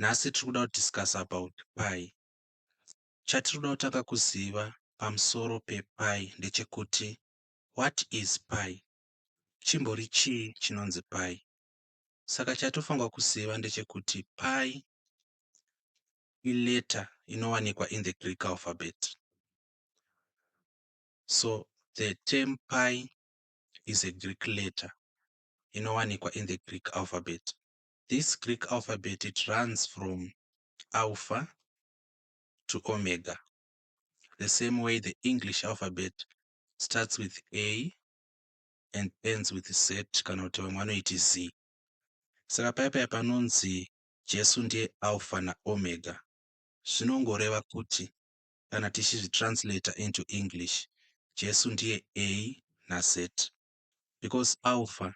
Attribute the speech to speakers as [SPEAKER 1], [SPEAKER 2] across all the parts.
[SPEAKER 1] Nhasi tiri kuda ku discuss about pi. Chatiri kuda kutanga kuziva pamusoro pe pi ndechekuti what is pi? Chimbori chii chinonzi pi? Saka chatofanirwa kuziva ndechekuti pi i letter inowanikwa in the Greek alphabet. So the term pi is a Greek letter inowanikwa in the Greek alphabet. this Greek alphabet it runs from Alpha to Omega the same way the English alphabet starts with A and ends with Z kana kuti vamwe vanoiti Z. Saka paya paya panonzi Jesu ndiye Alpha naOmega zvinongoreva kuti kana tichizvitranslator into English Jesu ndiye A naZ because Alpha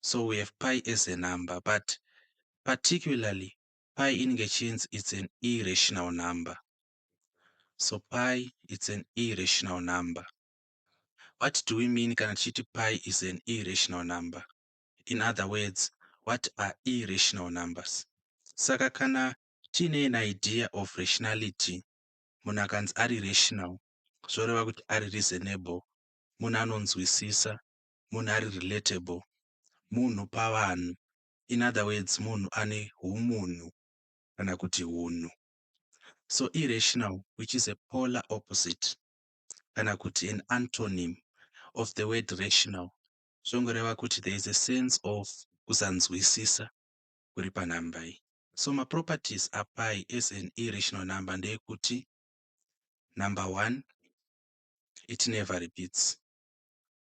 [SPEAKER 1] so we have pi as a number but particularly pi inenge ichinzi its an irrational number so pi its an irrational number what do we mean kana tichiti pi is an irrational number in other words what are irrational numbers saka kana tiine an idea of rationality munhu akanzi ari rational zvoreva kuti ari reasonable munhu anonzwisisa munhu ari relatable, munhu pavanhu in other words munhu ane humunhu kana kuti hunhu. So irrational which is a polar opposite kana kuti an antonym of the word rational zvongoreva kuti there is a sense of kusanzwisisa kuri panhamba iyi. So maproperties apai as an irrational number ndeyekuti number one it never repeats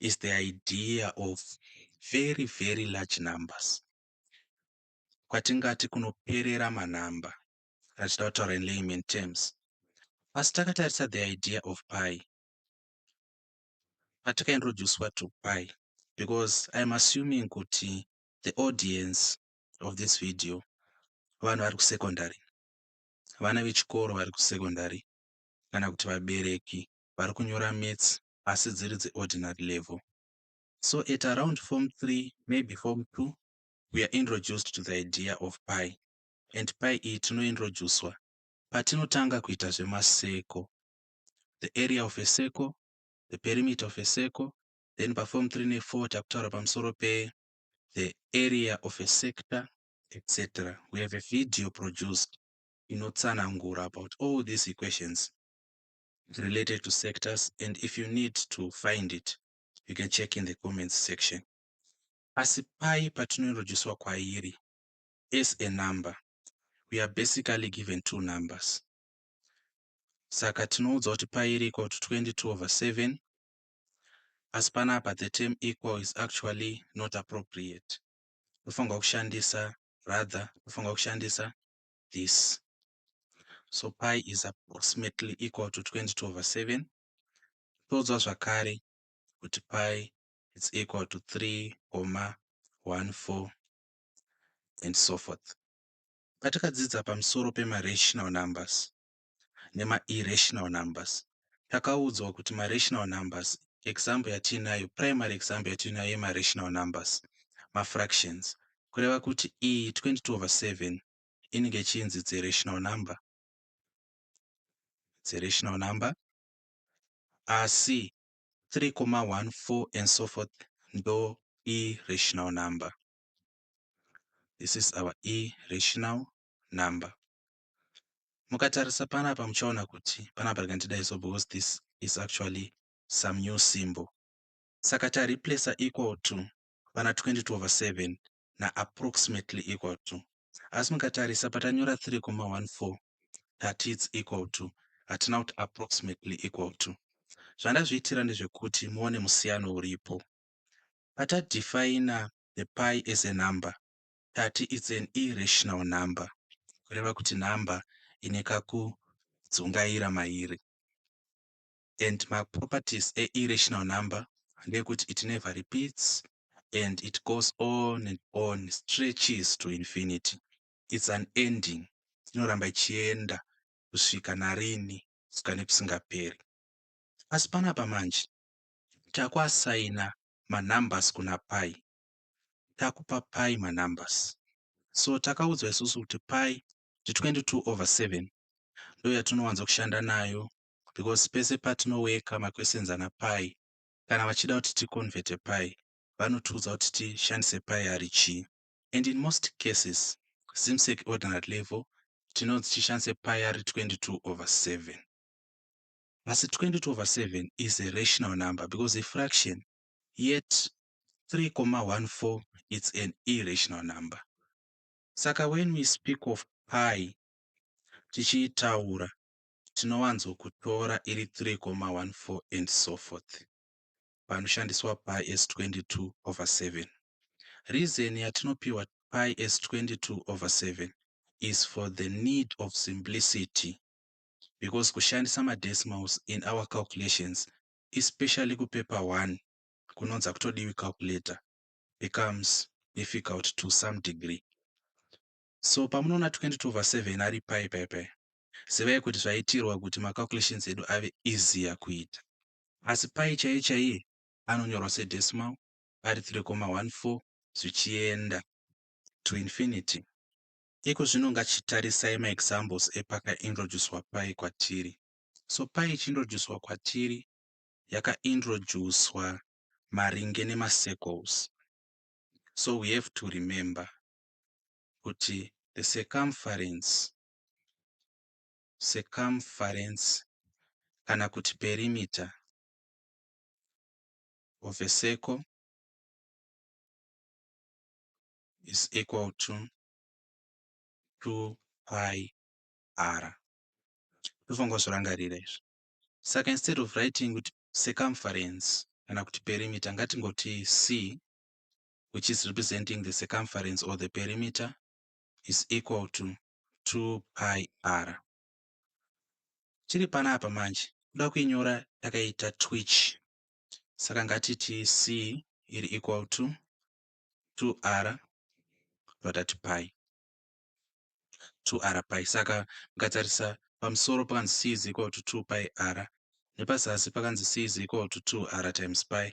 [SPEAKER 1] is the idea of very very large numbers kwatingati kunoperera manumber kana tichida kutaura in layman terms asi takatarisa the idea of pi patikaintroducwa to pi because iam assuming kuti the audience of this video vanhu vari kusecondary vana vechikoro vari kusecondary kana kuti vabereki vari kunyora mets asi dziri dze ordinary level. So at around form three maybe form two we are introduced to the idea of pi and pi iyi tinointroducwa patinotanga kuita zvemaseko the area of a circle, the perimeter of a circle, then paform 3 ne4 takutaura pamusoro pe the area of a sector etc we have a video produced inotsanangura about all these equations related to sectors and if you need to find it you can check in the comments section asi pai patinorodjeswa kwairi as a number we are basically given two numbers saka tinoudzwa kuti pi iri equal to 22 over 7 asi panapa the term equal is actually not appropriate tofanirwa kushandisa rather tofanirwa kushandisa this so pi is approximately equal to 20 to over 7 totoudzwa zvakare kuti pi is equal to 3 koma 14 and so forth patakadzidza pamusoro pemarational numbers nemairrational numbers takaudzwa kuti marational numbers example yatiinayo primary example yatiinayo yemarational numbers mafractions kureva kuti iyi 20 to over 7 inenge ichinzi it's a rational number, it's a rational number asi 3,14 and so forth ndo irrational number. This is our irrational number. Mukatarisa panapa muchaona kuti panapa rekandidayi so because this is actually some new symbol. Saka tareplacer equal to vana 22 over 7 na approximately equal to. Asi mukatarisa patanyora 3,14 tati its equal to hatina kuti approximately equal to. Zvandazviitira ndezvekuti muone musiyano uripo. Patadefina the pi as a number tati its an irrational number kureva kuti number ine kakudzungaira mairi. and ma properties e irrational number ndeekuti it never repeats and it goes on and on stretches to infinity its an ending inoramba ichienda kusvika narini kusvika nekusingaperi asi panapa manje takuasaina manumbers kuna pai takupa pai manumbers so takaudzwa isusu kuti pai ndi 22 over 7 ndoyatinowanza kushanda nayo because pese patino worker maquestions ana pi kana vachida kuti ticonverte pi vanotiudza kuti tishandise pi ari chii and in most cases zimsec ordinary level tinonzi tishandise pi ari 22 over 7 asi 22 over 7 is a rational number because a fraction yet 3,14 it's an irrational number saka when we speak of pi tichiitaura tinowanzo kutora iri 3,14 and so forth panoshandiswa pi as 22 over 7. Reason yatinopihwa pi as 22 over 7 is for the need of simplicity because kushandisa madecimals in our calculations especially kupaper 1 kunonza kutodiwi calculator becomes difficult to some degree. So pamunoona 22 over 7 ari pi pi pi zivai kuti zvaitirwa kuti ma calculations edu ave easier kuita. Asi pi chaiye chaiye anonyorwa se decimal ari 3,14 zvichienda to infinity. Iko zvino ngachitarisai ma examples epaka introducwa pi kwatiri. So pi ichi introducwa kwatiri yaka introducwa maringe nema circles. So we have to remember kuti the circumference, circumference kana kuti perimeter of a circle is equal to 2 pi r. Tofunga zvorangarira izvi. Saka instead of writing kuti circumference kana kuti perimeter ngatingoti c which is representing the circumference or the perimeter is equal to 2 pi r chiri pana apa manje kuda kuinyora yakaita twitch saka ngatiti c iri equal to 2 r vatati pi 2 r pi saka mukatarisa pamusoro pakanzi c is equal to 2 pi r nepazasi pakanzi c is equal to 2 r times pi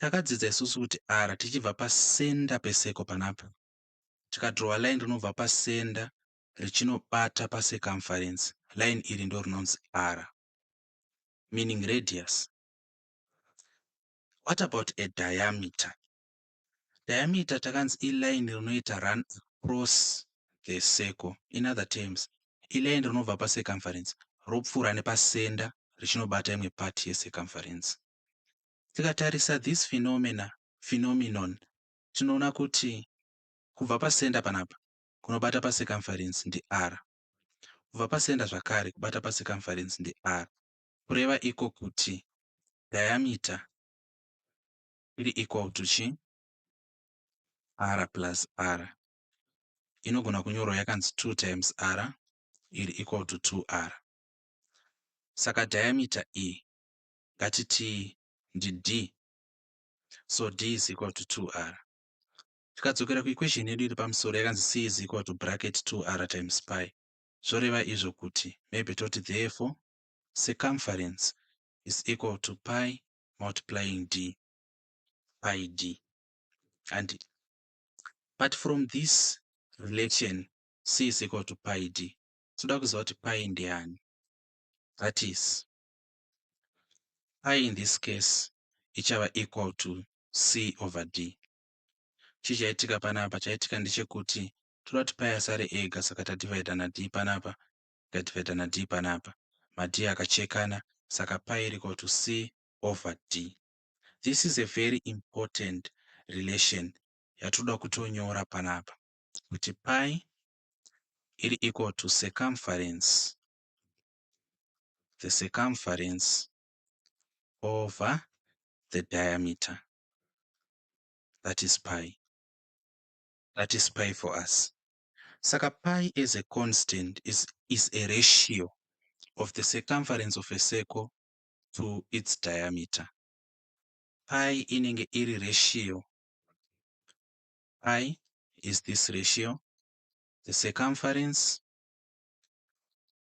[SPEAKER 1] Takadzidza isusu kuti r tichibva pasenda peseko panapa tikadrowa line rinobva pasenda richinobata pacircumference line iri ndo rinonzi r meaning radius what about a diameter diameter takanzi iline rinoita run across the circle in other terms iline rinobva pacircumference ropfuura nepasenda richinobata imwe part yecircumference Tikatarisa this phenomena, phenomenon, tinoona kuti kubva pasenda panapa kunobata pacircumference ndi r. Kubva pasenda zvakare kubata pacircumference ndi r. Kureva iko kuti diameter iri equal to chi r plus r inogona kunyorwa yakanzi 2 times r iri equal to 2r saka diameter iyi ngatitii ndi d so d is equal to 2r tikadzokera kuequation yedu iri pamusoro yakanzi c is equal to bracket 2r times pi zvoreva izvo kuti maybe toti therefore circumference is equal to pi multiplying d pi d and but from this relation c is equal to pi d toda kuziva kuti pi ndiani that is I in this case ichava equal to C over D. Chii chaitika panapa? Chaitika ndechekuti toda kuti pai asare ega saka tadivhaidha na D panapa tikadivhaidha na D panapa. Ma D akachekana saka pai iri equal to C over D. This is a very important relation yatoda kutonyora panapa kuti pai iri equal to circumference the circumference over the diameter that is pi that is pi for us saka pi as a constant is, is a ratio of the circumference of a circle to its diameter pi inenge iri ratio pi is this ratio the circumference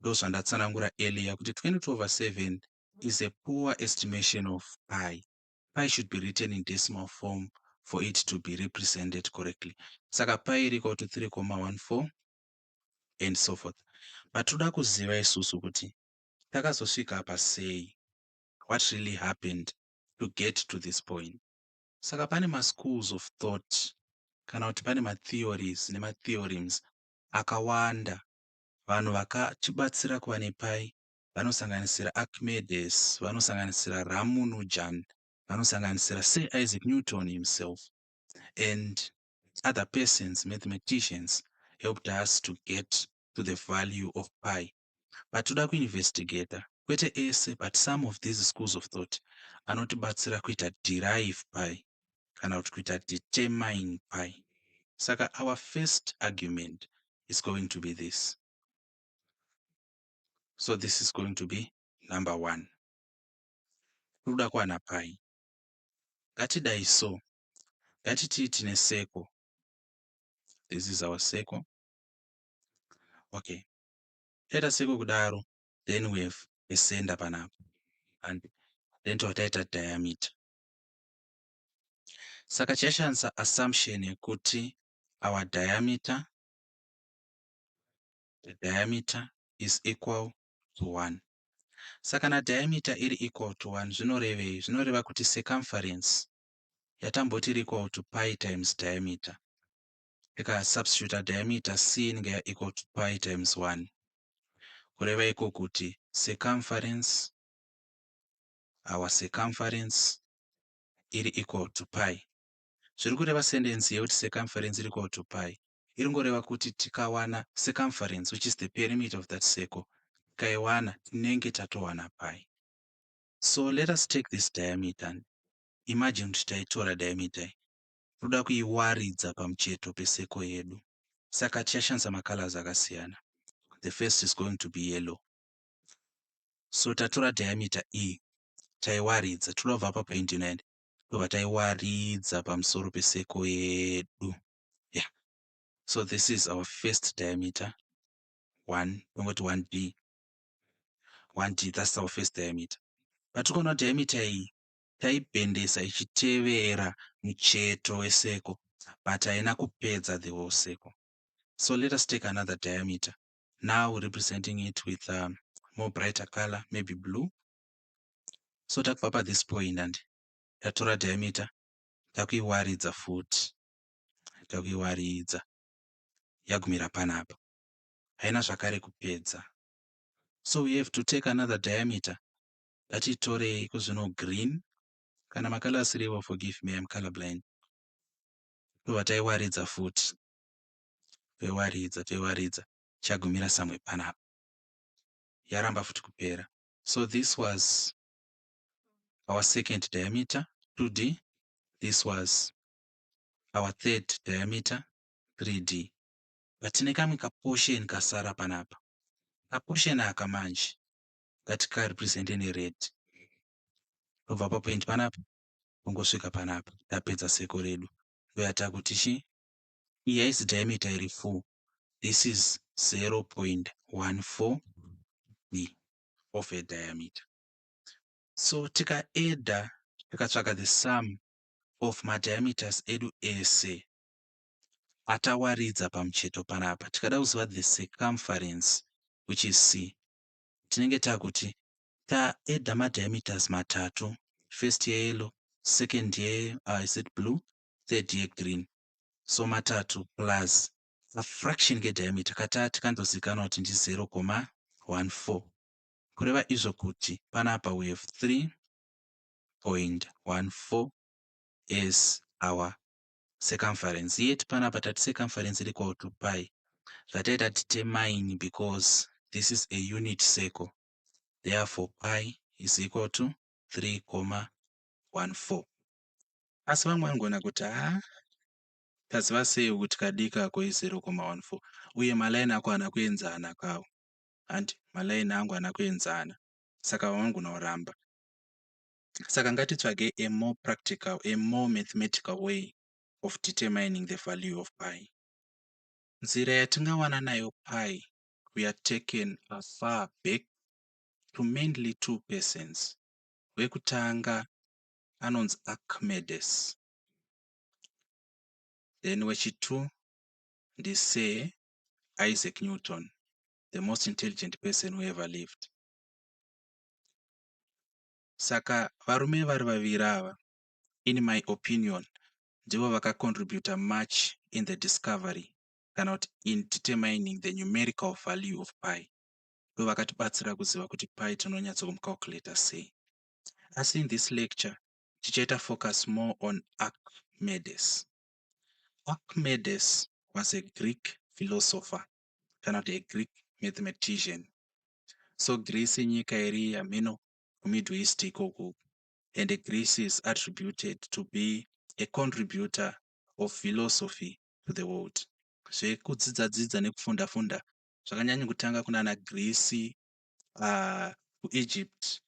[SPEAKER 1] Ndozvandatsanangura earlier kuti 22 over 7 is a poor estimation of pi. Pi should be written in decimal form for it to be represented correctly. Saka pi iri equal to 3,14 and so forth. But toda kuziva isusu kuti takazosvika apa sei? What really happened to get to this point? Saka pane maschools of thought kana kuti pane matheories nematheorems akawanda Vanhu vakatibatsira kuva nePAI vanosanganisira Archimedes, vanosanganisira Ramunujan, vanosanganisira Sir Isaac Newton himself and other persons, mathematicians, helped us to get to the value of pi. But toda kuinvestigator, kwete ese but some of these schools of thought anotibatsira kuita derive pi. kana kuti kuita determine pai. Saka our first argument is going to be this. So this is going to be number one. Kuda kuwana pai. Ngatidai so. Ngatitii tine circle. This is our circle. Okay. Taita circle kudaro, then we have a center panapa. And then totaita diameter. Saka chaishandisa assumption yekuti our diameter, the diameter is equal to 1. Saka kana diameter iri equal to 1 zvinorevei? Zvinoreva kuti circumference yatamboti iri equal to pi times diameter. Tika substitute diameter c inenge ya equal to pi times 1. Kureva iko kuti circumference our circumference iri equal to pi zviri kureva sendensi yekuti circumference iri equal to pi iri ngoreva kuti tikawana circumference which is the perimeter of that circle tikaiwana tinenge tatowana pi so let us take this diameter and imagine kuti taitora diameter toda kuiwaridza pamucheto peseko yedu saka tichashandisa macolors akasiyana the first is going to be yellow so tatora diameter iyi taiwaridza toda kubva apa point 9 tobva taiwaridza pamusoro peseko yedu yeah so this is our first diameter 1 tongoti 1b 1d that's our first diameter patikaona diameter iyi taibhendesa ichitevera mucheto weseko but haina kupedza the whole circle so let us take another diameter now representing it with a um, more brighter color maybe blue so takubva pa this point and tatora diameter takuiwaridza futi takuiwaridza yagumira panapa haina zvakare kupedza so we have to take another diameter ngatitorei kuzvino green kana makala asiriwo forgive me im color blind tobva taiwaridza futi toiwaridza toiwaridza tichagumira somewhere panapa yaramba futi kupera so this was our second diameter 2d this was our third diameter 3d but tine kamwe kaportion kasara panapa kaportion aka manje ngatikarepresente nered tobva papoint panapa tongosvika panapa tapedza seko redu ndoyatakuti chii iyi haisi diameter iri full this is 0.14 b of a diameter so tika adder tikatsvaga the sum of madiameters edu ese atawaridza pamucheto panapa tikada kuziva the circumference which is c tinenge takuti taeda madiameters matatu first yeyellow second ye uh, is it blue third ye green so matatu plus kafraction kediameter katati kanozivikanwa kuti ndi 0.14 kureva izvo kuti panapa we have 3.14 as our circumference yet panapa tati circumference iri equal to pi zvataita determine because this is a unit circle therefore pi is equal to 3.14 Asi vamwe vanogona kuti, Ha, taziva sei kuti kadiki ako izero koma wani fo? Uye malayini ako haana kuenzana kawo. Hanti, Malayini angu haana kuenzana. Saka vamwe vanogona kuramba. Saka ngatitsvagei a more practical, a more mathematical way of determining the value of pi. Nzira yatingawana nayo pi, we are taken afar back to mainly two persons. Wekutanga anonzi Archimedes then wechitu ndiSir Isaac Newton the most intelligent person who ever lived. Saka varume vari vaviri ava in my opinion ndivo vakacontributa much in the discovery kana kuti in determining the numerical value of pi ndo vakatibatsira kuziva kuti pi tinonyatso kumcalculator sei asi in this lecture tichaita focus more on Archimedes. Archimedes was a Greek philosopher kana kuti a Greek mathematician. So Greece inyika iri hameno kuMiddle East ikoku and Greece is attributed to be a contributor of philosophy to the world. Zvekudzidza dzidza nekufunda funda zvakanyanyo kutanga kunana Greece kuEgypt,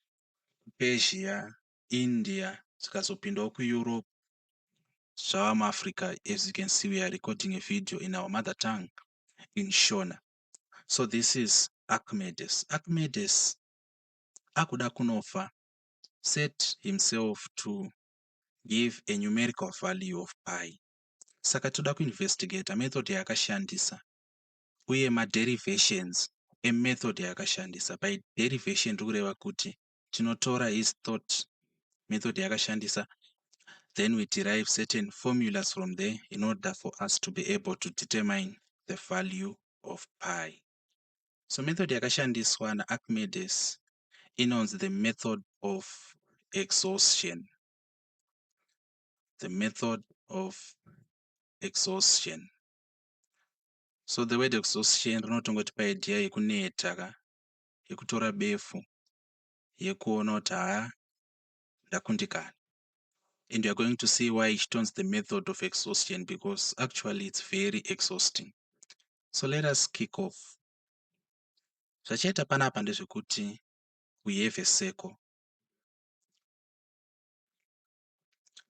[SPEAKER 1] kuPersia, India zvikazopindawo kuEurope zvava muAfrica as you can see we are recording a video in our mother tongue in Shona. So this is Archimedes. Archimedes akuda kunofa set himself to give a numerical value of pi. Saka toda kuinvestigate method yaakashandisa uye ma derivations e method yaakashandisa. By derivation ndiri kureva kuti tinotora his thought method yaakashandisa then we derive certain formulas from there in order for us to be able to determine the value of pi. So method yakashandiswa na Archimedes inonzi the method of exhaustion. The method of exhaustion. So the word exhaustion rinotongoti paidea yekuneta ka yekutora befu yekuona kuti haa ndakundikana and you're going to see why ichitonzi the method of exhaustion because actually it's very exhausting so let us kick off zvachaita panapa ndezvekuti we have a circle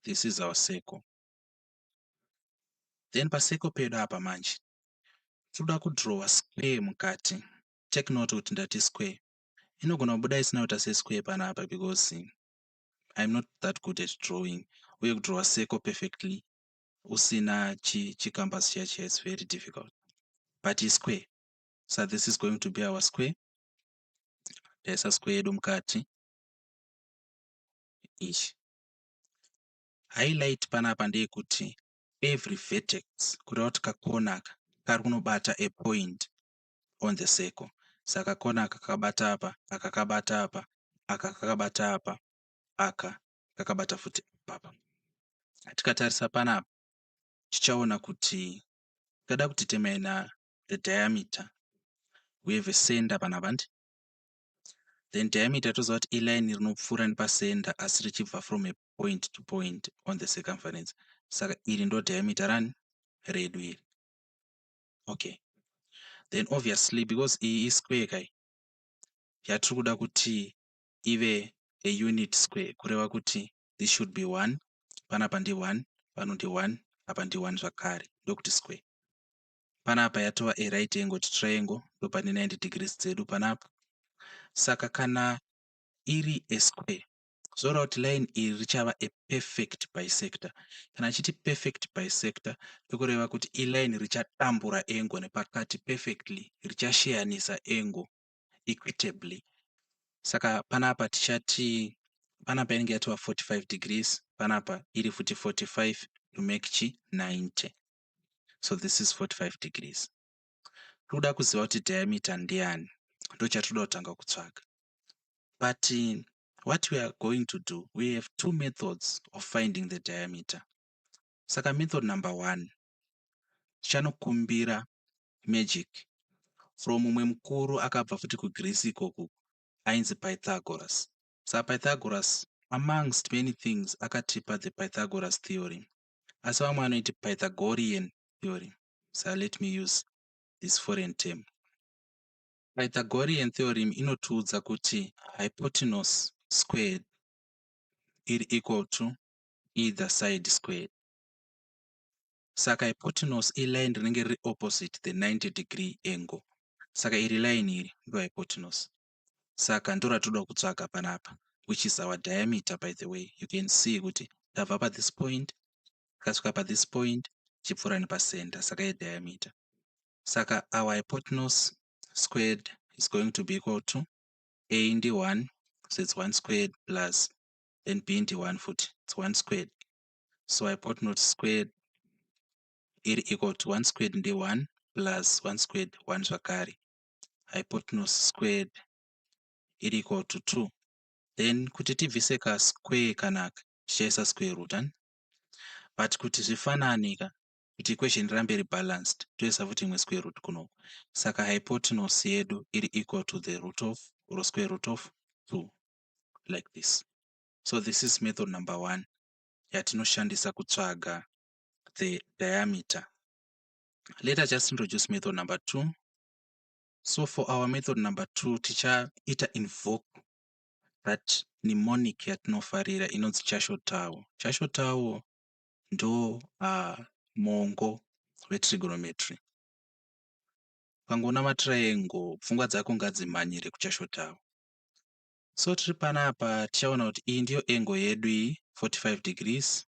[SPEAKER 1] this is our circle then pacircle pedu apa manje tinoda kudrowa square mukati take note kuti ndati square inogona kubuda isina kuita sesquare panapa because iam not that good at drawing uye kudrowa circle perfectly usina chicambus chi chiya chiya its very difficult but isquare so this is going to be our square taisa square yedu mukati ichi High light panapa ndeyekuti every vertex kureva kuti kakona aka kari kunobata a point on the circle. Saka kakona aka kakabata apa, aka kakabata apa, aka kakabata apa, aka kakabata futi ipapa. Tikatarisa panapa tichaona kuti tikada kudetermina the diameter we have a center panapa handi then diameter toziva kuti iline rinopfuura nepacenter asi richibva from a point to point on the circumference saka iri ndo diameter rani redu iri okay then obviously because iyi isquare kai yatiri kuda kuti ive a unit square kureva kuti this should be one panapa ndi one pano ndi one apa ndi one zvakare ndokuti square panapa yatova a right angle triangle ndopane 90 degrees dzedu panapa saka kana iri a square So route line iri richava a perfect bisector. Kana achiti perfect bisector ndokureva kuti iline richatambura angle nepakati perfectly richasheyanisa angle equitably. Saka panapa tichati panapa inenge yatova 45 degrees panapa iri futi 45 to make chi 90. So this is 45 degrees. Tikuda kuziva kuti diameter ndiyani ndochatinoda kutanga kutsvaga but what we are going to do we have two methods of finding the diameter saka method number one tichanokumbira magic from mumwe mukuru akabva futi kugreece ikoku ainzi pythagoras sa pythagoras amongst many things akatipa the pythagoras theory asi vamwe vanoiti pythagorean theory Sir let me use this foreign term. Pythagorean theorem inotiudza kuti hypotenuse squared iri equal to either side squared. Saka hypotenuse iline rinenge riri opposite the 90 degree angle. Saka iri line iri ndo hypotenuse. Saka ndoratoda kutsvaka panapa which is our diameter by the way. You can see kuti ndabva pa this point ndikasvika pa this point chipfuura nepa center saka ye diameter. Saka our hypotenuse squared is going to be equal to A ndi 1 so it's 1 squared plus then B ndi 1 futi it's 1 squared. So hypotenuse squared iri equal to 1 squared ndi 1 plus 1 squared 1 zvakare hypotenuse squared iri equal to 2 then kuti tibvise ka square kanaka tichaisa square root ani but kuti zvifanane ka kuti equation rirambe iri balanced toisa futi imwe square root kunoku saka hypotenuse yedu iri equal to the root of or square root of 2 like this so this is method number one yatinoshandisa kutsvaga the diameter let us just introduce method number two so for our method number two tichaita invoke that mnemonic yatinofarira inonzi chashotawo chashotawo ndo uh, mongo wetrigonometry ukangoona matriangle pfungwa dzako ngadzimhanyire kuchashotawo So tiri panapa tichaona kuti iyi ndiyo angle yedu iyi 45 degrees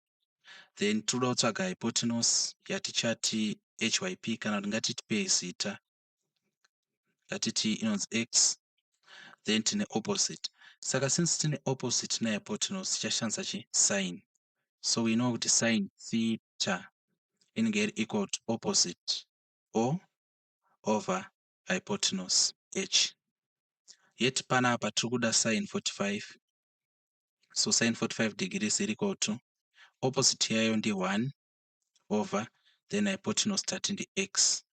[SPEAKER 1] then tinoda kutsvaga hypotenuse yatichati hyp kana kuti ngatitipei zita ngatiti inonzi x then tine opposite saka since tine opposite nehypotenuse tichashandisa chi sin so we know kuti sin theta inenge iri equal to opposite o over hypotenuse H. Yet panapa tiri kuda sine 45 so sine 45 degrees iri equal to opposite yayo ndi 1 over then hypotenuse tati ndi x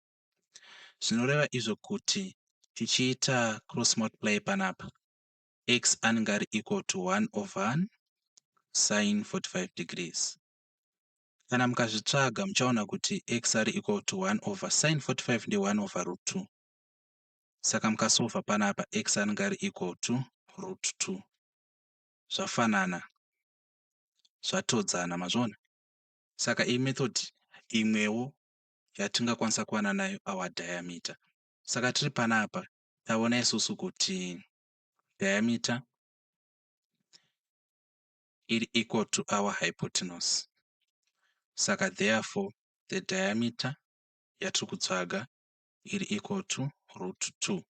[SPEAKER 1] zvinoreva izvo kuti tichiita cross multiply panapa x anenge ari equal to 1 over 1 sine 45 degrees Kana mukazvitsvaga muchaona kuti x are equal to 1 over sin 45 ndi 1 over root 2. Saka mukasova panapa x anenge ari equal to root 2. Zvafanana. Zvatodzana mazvona. Saka iyi method imwewo yatingakwanisa kuwana nayo our diameter. Saka tiri panapa taona isusu kuti diameter iri equal to our hypotenuse. Saka therefore the diameter yatiri kutsvaga iri equal to root 2.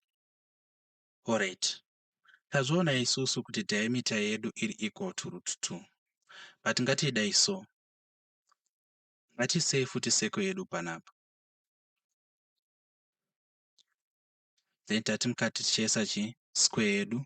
[SPEAKER 1] Alright, tazviona isusu kuti diameter yedu iri equal to root 2. But ngatiidai so. Ngatisei futi seko yedu panapa. Then tati mukati tichaisa chi square yedu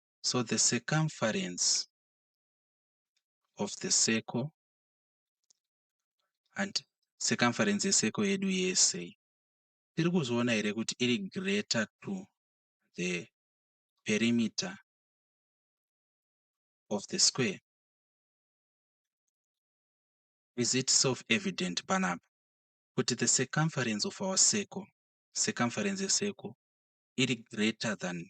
[SPEAKER 1] So the circumference of the circle and circumference yeseko yedu yese tiri kuzviona here kuti iri greater to the perimeter of the square is it self evident panapa kuti the circumference of our circle circumference yeseko iri greater than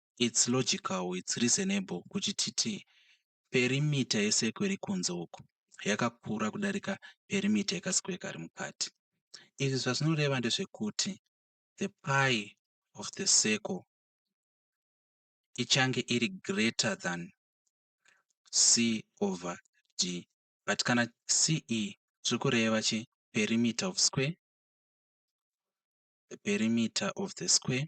[SPEAKER 1] it's logical it's reasonable kuti titi perimeter yecircle iri kunze uku yakakura kudarika perimeter yekasquare kari mukati. Izvi zvazvinoreva ndezvekuti the pi of the circle ichange iri greater than c over d but kana ce tiri kureva chi perimeter of square the perimeter of the square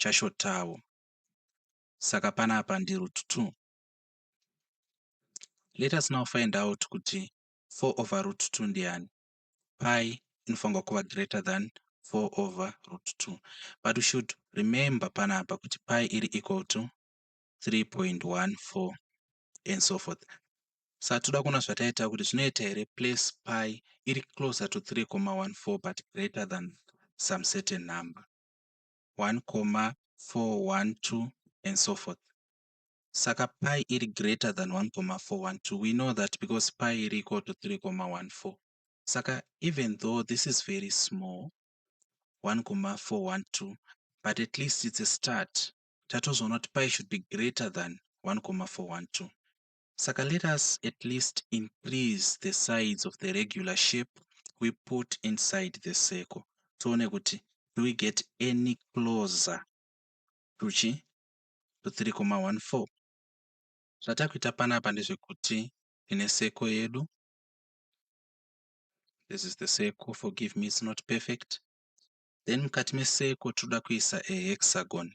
[SPEAKER 1] chashotawo saka panapa ndiRoot 2. Let us now find out kuti 4 over root 2 ndiani. Pi inofanirwa kuva greater than 4 over root 2 but we should remember panapa kuti pi iri equal to 3.14 and so forth sa toda kuona zvataita kuti zvinoita here place pi iri closer to 3.14 but greater than some certain number 1,412 and so forth saka pi iri greater than 1,412 we know that because pi iri equal to 3,14 saka even though this is very small 1,412 but at least it's a start tatozoona kuti pi should be greater than 1,412 Saka let us at least increase the sides of the regular shape we put inside the circle tione kuti do we get any closer to chi to 3,14 zvatakuita panapa ndezvekuti tine seko yedu this is the seko forgive me it's not perfect then mukati meseko tinoda kuisa a hexagon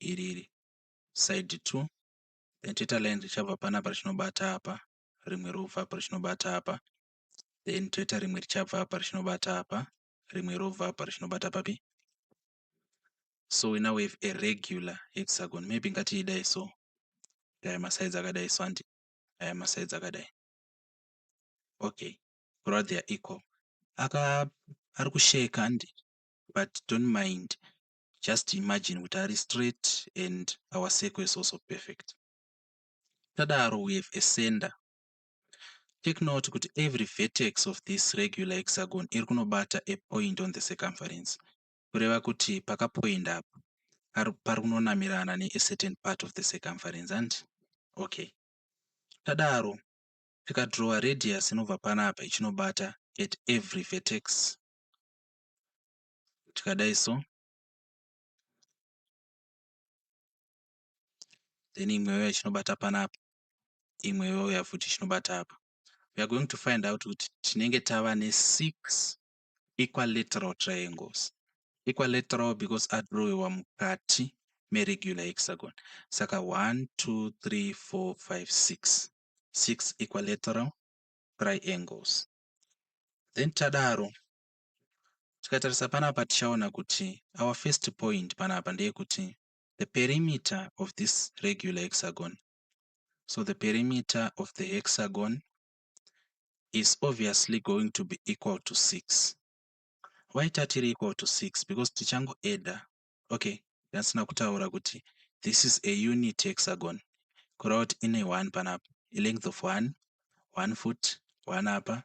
[SPEAKER 1] iri side two then toita line richabva panapa richinobata apa rimwe robva apa richinobata apa then toita rimwe richabva apa richinobata apa rimwe robva apa richinobata papi so we now have a regular hexagon maybe ngatiidai so aya masides akadai so handi aya masides akadai okay kureva they are equal aka ari kusheka handi but don't mind just imagine kuti ari straight and our circle is also perfect. Tadaro we have a center. Take note kuti every vertex of this regular hexagon iri kunobata a point on the circumference. Kureva kuti pakapoinda apa pari kunonamirana ne a certain part of the circumference hanti? Okay. Tadaro tikadrowa radius inobva panapa ichinobata at every vertex tikadai so then imwe yauya ichinobata panapa imwe yauya futi ichinobata apa we are going to find out kuti tinenge tava nesix equilateral triangles equilateral because adrowiwa mukati meregular hexagon saka 1 2 3 4 5 6 six equilateral triangles then tadaro Tikatarisa panapa tichaona kuti our first point panapa ndeyekuti the perimeter of this regular hexagon. So the perimeter of the hexagon is obviously going to be equal to 6. Why tatiri equal to 6? Because tichango adder. Okay, yasina kutaura kuti this is a unit hexagon. Kureva kuti ine 1 panapa. A length of 1, 1 foot, 1 apa,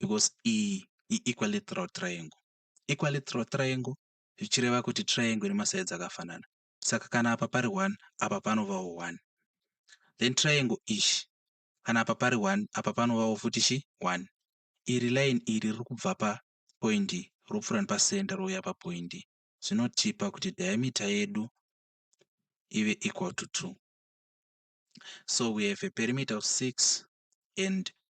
[SPEAKER 1] because iyi iEquilateral triangle. Equilateral triangle zvichireva kuti triangle ine masides akafanana. Saka kana apa pari 1 apa panovawo 1. Then triangle ichi kana apa pari 1 apa panovawo futi chi 1. Iri line iri riri kubva pa point ropfuura nepacenter rouya pa point. Zvinotipa kuti diameter yedu ive equal to 2. So we have a perimeter of 6 and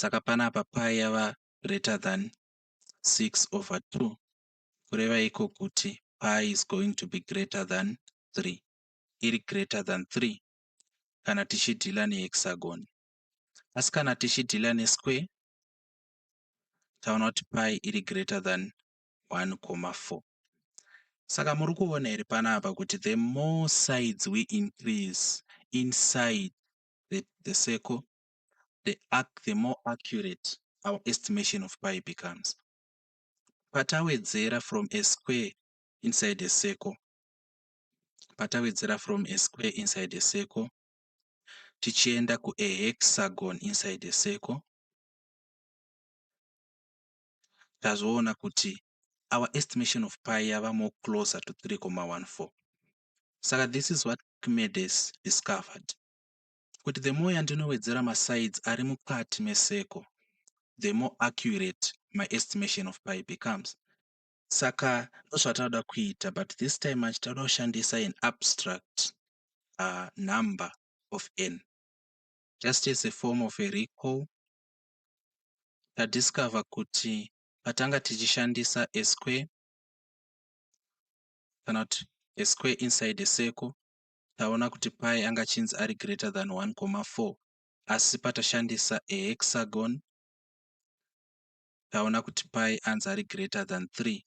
[SPEAKER 1] Saka panapa pi yava greater than 6 over 2 kureva iko kuti pi is going to be greater than 3. Iri greater than 3 kana tichidhila nehexagon. Asi kana tichidhila nesquare taona kuti pi iri greater than 1,4. Saka muri kuona here panapa kuti the more sides we increase inside the the circle the arc the more accurate our estimation of pi becomes patawedzera from a square inside a circle patawedzera from a square inside a circle tichienda ku a hexagon inside a circle tazoona kuti our estimation of pi yava more closer to 3,14 Saka this is what Archimedes discovered, kuti the more yandinowedzera masides ari mukati meseko, the more accurate my estimation of pi becomes. Saka ndozvatinoda kuita, but this time manje tinoda kushandisa an abstract uh, number of n. Just as a form of a recall, tadiscover kuti patanga tichishandisa a square kana kuti a square inside a circle taona kuti pi anga achinzi ari greater than 1,4 asi patashandisa a hexagon taona kuti pi anzi ari greater than 3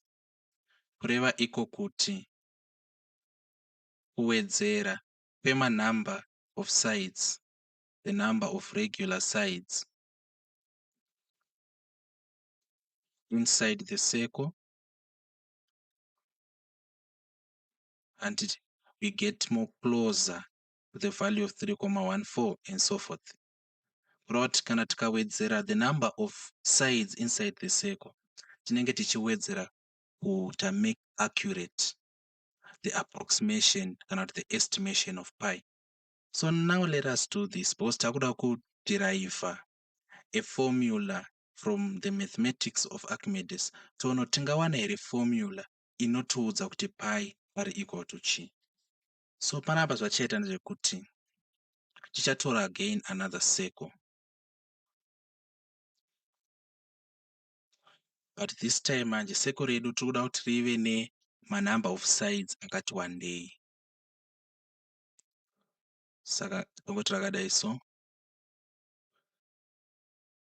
[SPEAKER 1] kureva iko kuti kuwedzera kwemanumber of sides the number of regular sides inside the circle and we get more closer to the value of 3,14 and so forth. Rot kana tikawedzera the number of sides inside the circle tinenge tichiwedzera kuita make accurate the approximation kana kuti the estimation of pi. So now let us do this because takuda kuderiva a formula from the mathematics of Archimedes toona kuti tingawana here formula inotiudza kuti pi pari equal to chii. So panapa zvatichaita ndezvekuti tichatora again another circle but this time manje circle redu tiri kuda kuti rive nemanumber of sides akati wandei saka tongoti rakadai so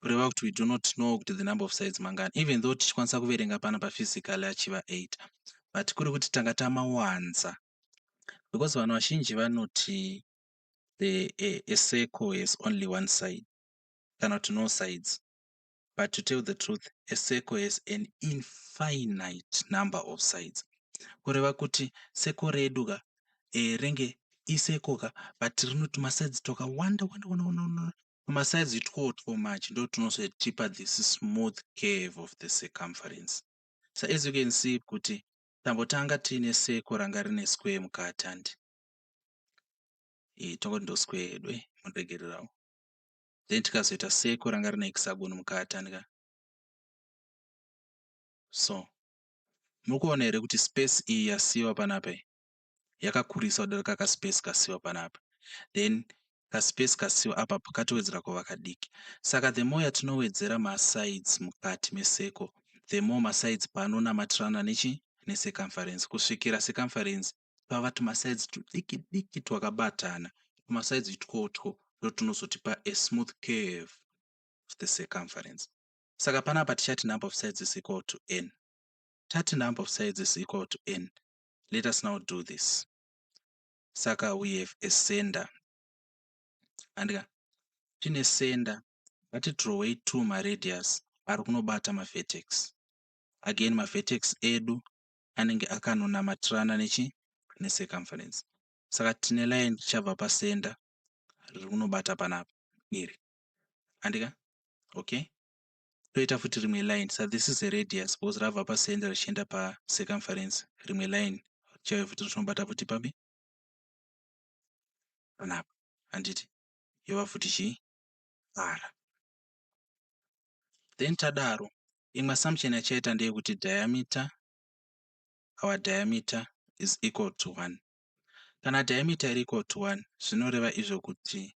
[SPEAKER 1] kureva kuti we do not know kuti the number of sides mangani even though tichikwanisa kuverenga pano paphysically achiva 8 but kuri kuti tanga tamawanza because vanhu vazhinji vanoti the a, a circle has only one side kana kuti no sides but to tell the truth a circle has an infinite number of sides kureva kuti seko redu ka eh, renge isekoka but rino tumasides twakawanda wanda wanda wanda wanda tumasides two or two much ndo tunozotipa this smooth curve of the circumference so as you can see kuti tambotanga tiine seko ranga rine square mukati handi eh, tongoti ndo square yedu eh, mundiregererawo then tikazoita seko ranga rine hexagon mukati handika so Muri kuona here kuti space iyi yasiiwa panapa iyi yakakurisa kudarika kaspace kasiiwa panapa then kaspace kasiiwa apa katowedzera kuva kadiki. Saka the more yatinowedzera masides mukati meseko the more masides paanonamatirana nechi necircumference kusvikira circumference pava tumasides tudiki diki twakabatana tumasides itwotwo ndotunozotipa a smooth curve of the circumference. Saka panapa tichati number of sides is equal to n. Tati number of sides is equal to n, let us now do this. Saka we have a sender. Andika, tine sender, ngatidrowei two maradius ari kunobata mavertex. Again, mavertex edu anenge akanonamatirana nechi necircumference. Saka tine line richabva pasender riri kunobata panapa iri. handika okay toita futi rimwe line sa this is a radius because rabva pacenter richienda pacircumference rimwe line chaive futi richinobata futi papi panapa handiti yova futi chii r then tadaro imwe assumption yachaita ndeyekuti diameter our diameter is equal to one kana diameter iri equal to one zvinoreva izvo kuti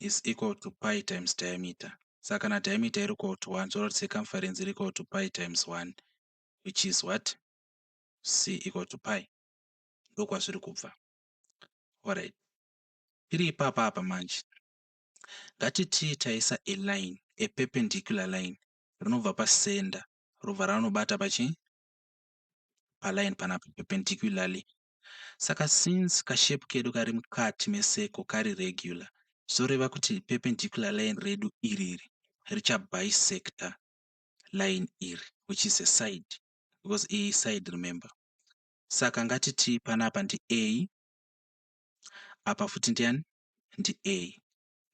[SPEAKER 1] is equal to pi times diameter. Saka kana diameter iri equal to 1 zvoreva kuti circumference iri equal to pi times 1 which is what? c equal to pi. Ndokwazviri kubva. Alright. Tiri ipapa apa manje. Ngatitii taisa a line, a perpendicular line rinobva pasenda robva ranobata pachi paline panapa perpendicularly Saka since ka shape kedu kari mukati me circle kari regular zvoreva kuti perpendicular line redu iriri richa bisector line iri which is a side because iyi iside remember. Saka ngatiti panapa ndi A apa futi ndiani ndi A.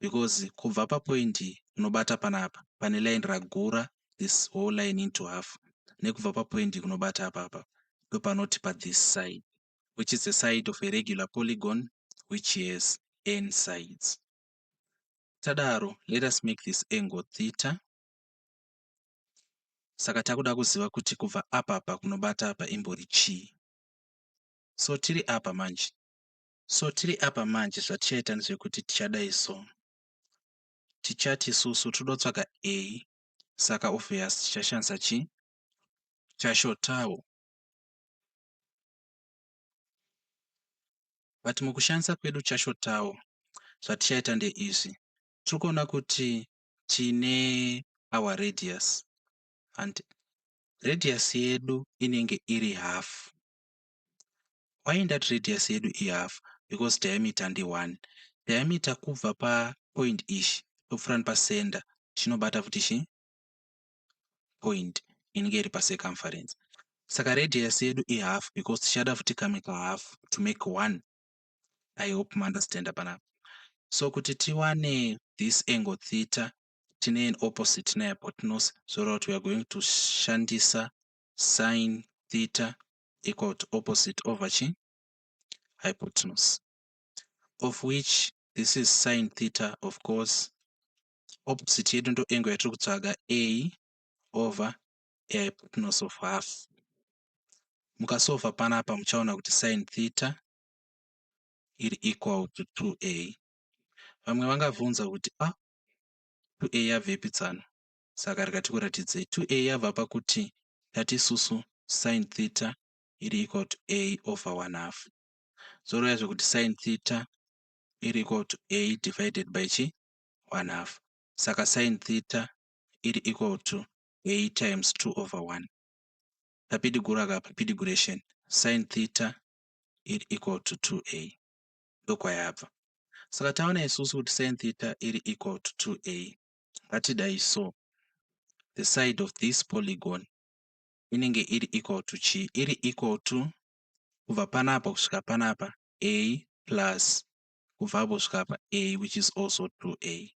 [SPEAKER 1] because kubva papoint kunobata panapa pane line ragura this whole line into half nekubva papoint kunobata apapa ndopanoti pathis side which is the side of a regular polygon which has n sides. Tadaro, let us make this angle theta. Saka takuda kuziva kuti kubva apa apa kunobata apa imbori chii. So tiri apa manje, So tiri apa manje zvatichaita ndezvekuti tichadai so. Tichati isusu tiri kutsvaga A saka obvious tichashandisa chi chashotawo. But mukushandisa kwedu chashotawo zvatichaita ndeizvi. Tiri kuona kuti tine our radius and radius yedu inenge iri half. Why ndati radius yedu i half because diameter ndi one. Diameter kubva pa point ichi topfuura nepa center chinobata futi chi point inenge iri pa circumference. Saka radius yedu i half because tichada futi kamwe ka half to make one. I hope ma understander panapa. So kuti tiwane this angle theta tine an opposite ne hypotenuse zvoreva kuti we are going to shandisa sin theta equal to opposite over chi hypotenuse of which this is sin theta of course opposite yedu ndo angle yatiri kutsvaga a over a hypotenuse of half mukasova panapa muchaona kuti sin theta iri equal to 2a vamwe vangavhunza kuti a ah, 2a yabvepi tsano saka rega tikuratidzei 2a yabva pakuti tati isusu sin theta iri equal to a over 1 half zvoreva zvekuti sin theta iri equal to a divided by chi 1 half saka sin theta iri equal to a times 2 over 1 papidiguru aka papidiguration sin theta iri equal to 2a ndokwayabva saka taona isusu kuti sin theta iri equal to 2a ngatidai so the side of this polygon inenge iri equal to chii? Iri equal to kubva panapa kusvika panapa a plus kubva apo kusvika apa a which is also 2a.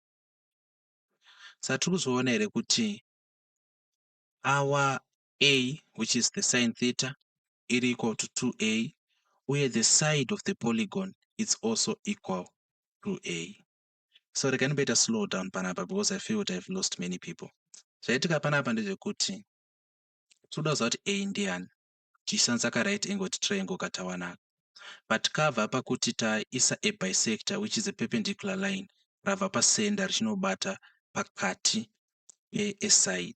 [SPEAKER 1] Saka tiri kuzviona here kuti our a which is the sine theta iri equal to 2a uye the side of the polygon is also equal to a. so regai ndimboita slow down panapa because i feel kuti ihave lost many people zvaitika panapa ndezvekuti tinoda kuziva kuti a ndiani tichishandisa ka right angle triangle katawanaka but kava pakuti taisa a bisector which is a perpendicular line rava pacenter richinobata pakati peaside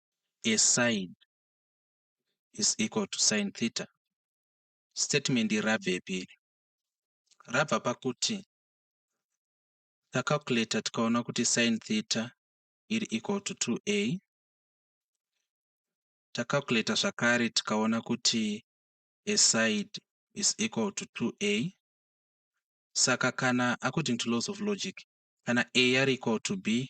[SPEAKER 1] a sine is equal to sine theta. Statement iri rabvepi iri? Rabva pakuti tacalculator tikaona kuti sine theta iri equal to 2a tacalculator zvakare tikaona kuti a side is equal to 2a saka kana according to laws of logic kana a yari equal to b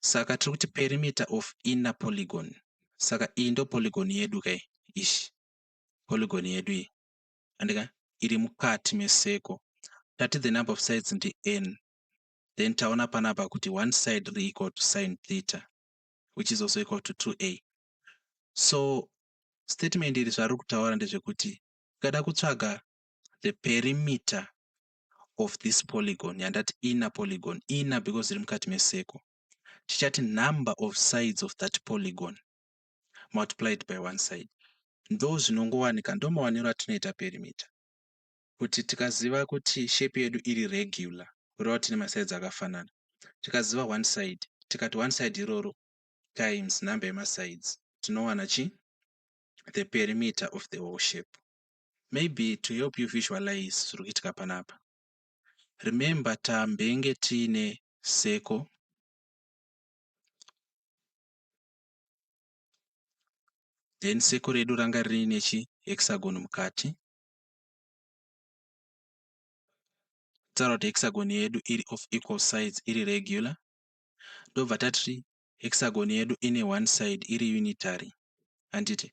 [SPEAKER 1] Saka tiri kuti perimeter of inner polygon. Saka iyi ndo polygon yedu ka iyi. Ish. Polygon yedu iyi. Andika iri mukati meseko. Tati the number of sides ndi n. Then taona panapa kuti one side re equal to sin theta which is also equal to 2a. So statement iri zvariri kutaura ndezvekuti tikada kutsvaga the perimeter of this polygon yandati inner polygon, inner because iri mukati mecircle, tichati number of sides of that polygon multiplied by one side. Ndozvinongowanika, ndomawaniro atinoita perimeter kuti tikaziva kuti shape yedu iri regular kureva kuti ine masides akafanana, tikaziva one side tikati one side iroro times number yemasides tinowana chi the perimeter of the whole shape. maybe to help you visualize zviri kuitika panapa. Remember tambenge tiine circle then circle redu ranga riine chi hexagon mukati tsaura kuti hexagon yedu iri of equal sides iri regular ndobva tati hexagon yedu ine one side iri unitary handiti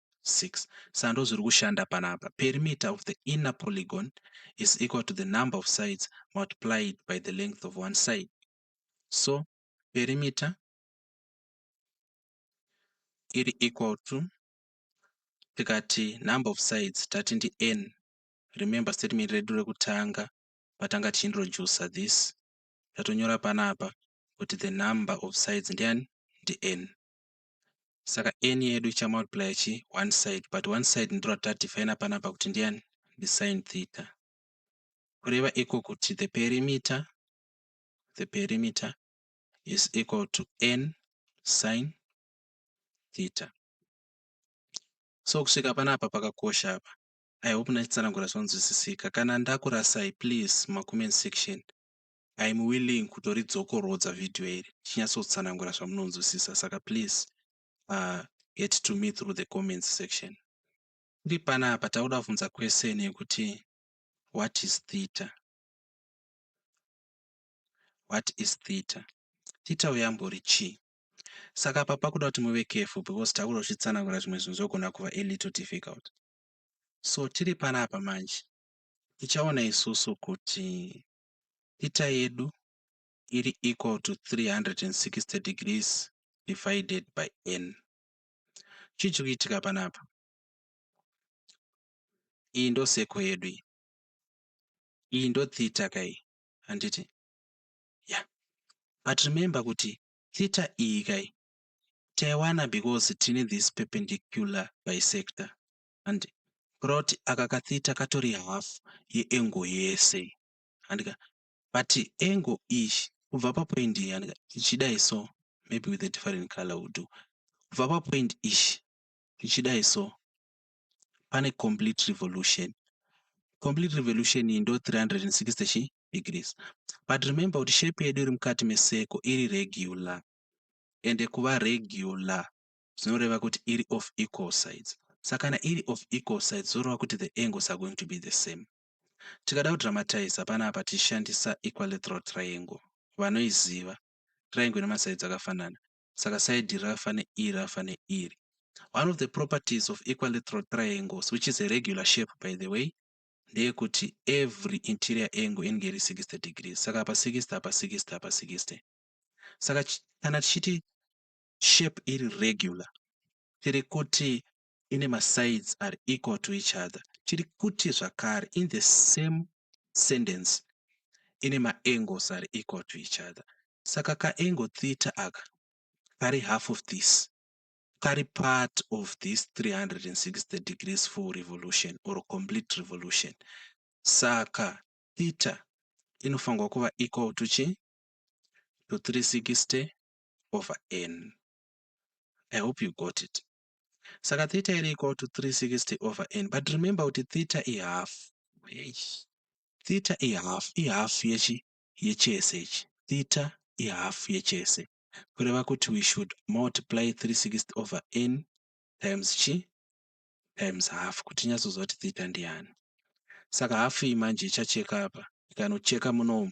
[SPEAKER 1] 6 saka ndozviri kushanda panapa perimeter of the inner polygon is equal to the number of sides multiplied by the length of one side so perimeter iri equal to tikati number of sides tati ndi n remember statement redu rekutanga patanga tichiintroducer this tatonyora panapa kuti the number of sides ndiani ndi n Saka n yedu ichamultiplya chi one side but one side ndiro ratiri kudefina panapa kuti ndiyani? Ndisine theta. Kureva iko kuti the perimeter, the perimeter is equal to n sine theta. So kusvika panapa pakakosha apa. I hope ndachitsanangura zvonzwisisika. Kana ndakurasai please mumacoment section I am willing kutoridzokorodza video iri ndichinyatsotsanangura zvamunonzwisisa saka please uh, get to me through the comments section. Tiri panapa takuda kubvunza question yekuti what is theta? What is theta? Theta uyambori chii? Saka apa pakuda kuti muve careful because takuda kuchitsanangura zvimwe zvinhu zvogona kuva a little difficult. So tiri panapa manje tichaona isusu kuti Theta yedu iri equal to 360 degrees divided by n. Chii chiri kuitika panapa? Iyi ndo circle yedu iyi. Iyi ndo theta ka iyi, handiti? Yeah. But remember kuti theta iyi ka iyi taiwana because tine this perpendicular bisector. and plot aka ka theta katori half ye angle yese handika but angle iyi kubva pa point iyi handika ichidai so maybe with a different color will do kubva pa point iyi ichidai so pane complete revolution complete revolution iyi ndo 360 chi degrees but remember kuti shape yedu iri mukati meseko iri regular ende kuva regular zvinoreva kuti iri of equal sides. Saka kana iri of equal sides zvoreva kuti the angles are going to be the same. Tikada kudramatiza panapa tichishandisa equilateral triangle. Vanoiziva. Triangle ine masaids akafanana. Saka side iri rakafa neiri rakafa neiri. One of the properties of equilateral triangles which is a regular shape by the way ndeyekuti every interior angle inenge iri 60 degrees saka apa 60 apa 60 apa 60 saka kana tichiti shape iri regular tiri kuti ine masides ari equal to each other. Tiri kuti zvakare in the same sentence ine maangles ari equal to each other. Saka kaangle theta aka kari half of this kari part of this 360 degrees full revolution or complete revolution. Saka theta inofanirwa kuva equal to chi to 360 over n. I hope you got it. Saka theta iri equal to 360 over n but remember kuti theta i half. Eish. Theta i half, i half yechi yechese ichi. Theta i half yechese. Kureva kuti we should multiply 360 over n times chi times half kuti tinyatsoziva kuti theta ndiyani. Saka half iyi manje ichacheka apa ikanocheka munomu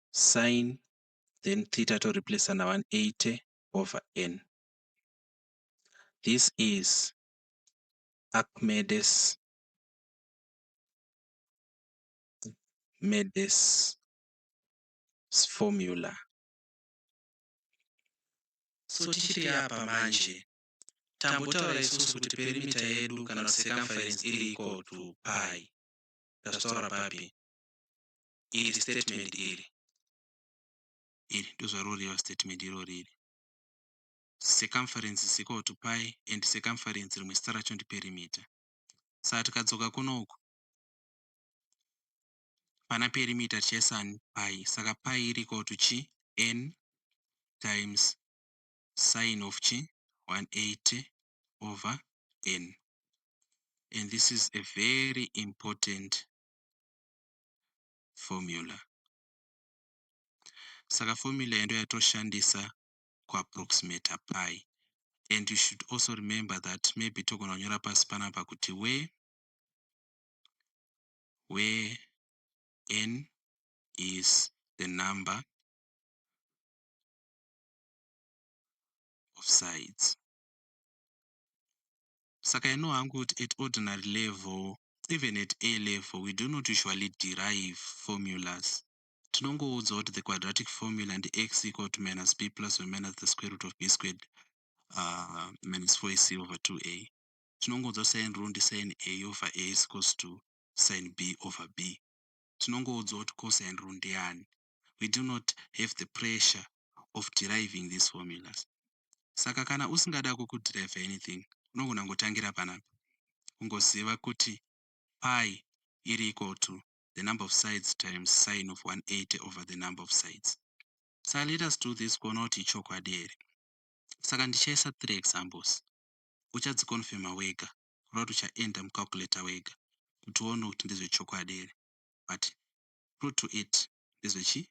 [SPEAKER 1] sin then theta to replace na 180 over n. This is Archimedes Archimedes formula. So tichiri apa manje tambotaura isusu kuti perimeter yedu kana circumference iri equal to pi. Ndazvitaura papi? iri statement iri iri ndozvaro reva statement iro riri circumference is equal to pi and circumference rimwe zita racho ndi perimeter saka tikadzoka kunoku pana perimeter tichaisa ni pi saka pi iri equal to chi n times sine of chi 180 over n and this is a very important formula. Saka formula iyi ndoyatoshandisa ku approximater pi and you should also remember that maybe togona kunyora pasi panapa kuti where where n is the number of sides Saka I know hangu kuti at ordinary level, even at A level, we do not usually derive formulas. Tinongoudzwa kuti the quadratic formula ndi x equal to minus b plus or minus the square root of b squared uh, minus 4ac over 2a. Tinongoudzwa sin rule ndi sin a over a is equals to sin b over b. Tinongoudzwa kuti cosine rule ndiyani. we do not have the pressure of deriving these formulas. Saka kana usingada kukuderiver anything, unogona kungotangira panapa. Kungoziva kuti pi iri equal to the number of sides times sine of 180 over the number of sides. Saka let us do this kuona kuti ichokwadi here. Saka ndichaisa three examples. Uchadziconfirma wega, kureva kuti uchaenda mucalculator wega kuti uone kuti ndezvechokwadi here. But true to it ndezvechii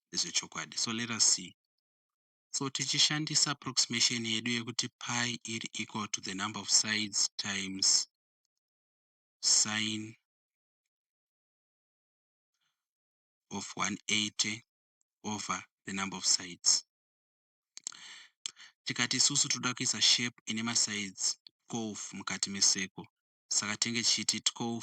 [SPEAKER 1] ndezvechokwadi so let us see so tichishandisa approximation yedu yekuti pi iri equal to the number of sides times sine of 180 over the number of sides tikati isusu toda kuisa shape ine masides 12 mukati meseko saka tenge tichiti 12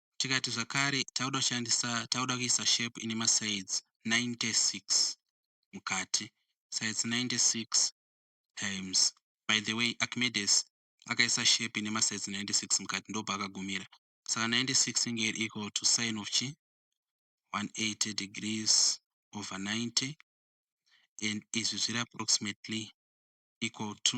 [SPEAKER 1] tikati zvakare takuda kushandisa takuda kuisa shape ine masides 96 mukati sides 96 times by the way Archimedes akaisa shape ine masides 96 mukati ndobva akagumira saka 96 inge iri equal to sign of chi 180 degrees over 90 and izvi zviri approximately equal to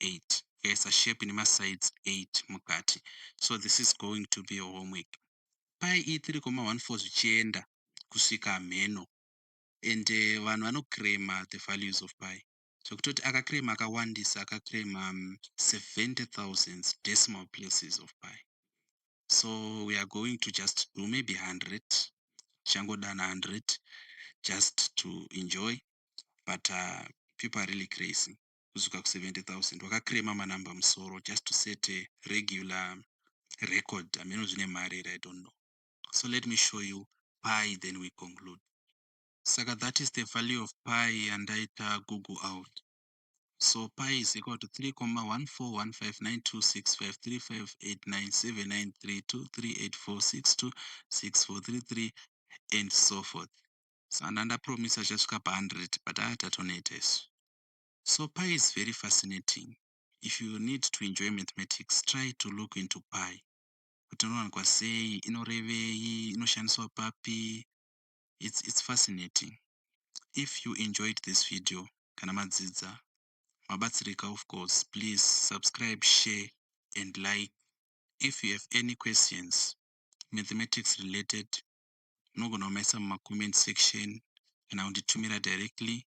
[SPEAKER 1] 8 tikaisa shape nemasides 8 mukati so this is going to be your homework pi e3,14 zvichienda kusvika hamheno and vanhu vanocraima the values of pi zvekutoti akacraima akawandisa akacraima 70000 um, decimal places of pi so we are going to just do maybe 100 tichangodana 100 just to enjoy but uh, people are really crazy kusvika ku 70,000 waka crema ma number musoro just to set a regular record hameno zvine mari here I don't know so let me show you pi then we conclude saka that is the value of pi yandaita google out so pi is equal to 3,1415926535897932384626433 and so forth so andandapromisa chasvika pa 100 but haa tatoneta isu so pi is very fascinating if you need to enjoy mathematics try to look into pi kuti inowanikwa sei inorevei inoshandiswa papi its its fascinating if you enjoyed this video kana madzidza mabatsirika of course please subscribe share and like if you have any questions mathematics related munogona kumaisa mumacomment section kana kunditumira directly